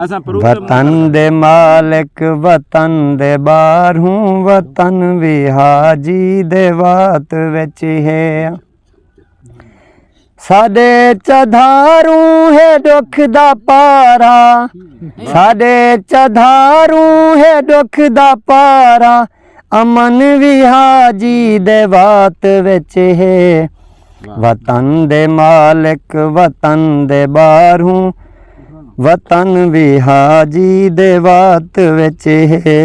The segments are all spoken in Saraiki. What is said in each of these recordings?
وطن دے مالک وطن دے باہروں وطن وی حاجی دے وات وچ ہے ساڈے چدھاروں ہے دکھ دا پارا ساڈے چدھاروں ہے دکھ دا پارا امن وی حاجی دے وات وچ ہے وطن دے مالک وطن دے باہروں وطن وی حاجی دے وات وچ ہے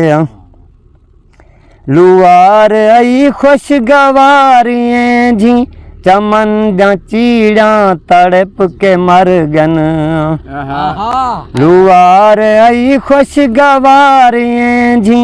لوار ائی خوش گواریاں جی چمن دا چیڑاں تڑپ کے مر گن لوار ائی خوش گواریاں جی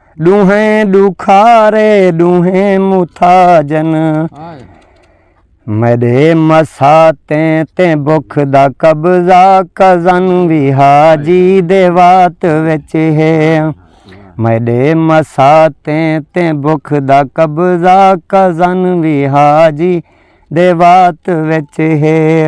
ڈوہیں ڈوکھارے ڈوہیں متاجن میڈے مساتیں تے بخ دا قبضہ کزن وی حاجی دے وات وچ ہے میڈے مساتیں تے بخ دا قبضہ کزن وی حاجی دے وات وچ ہے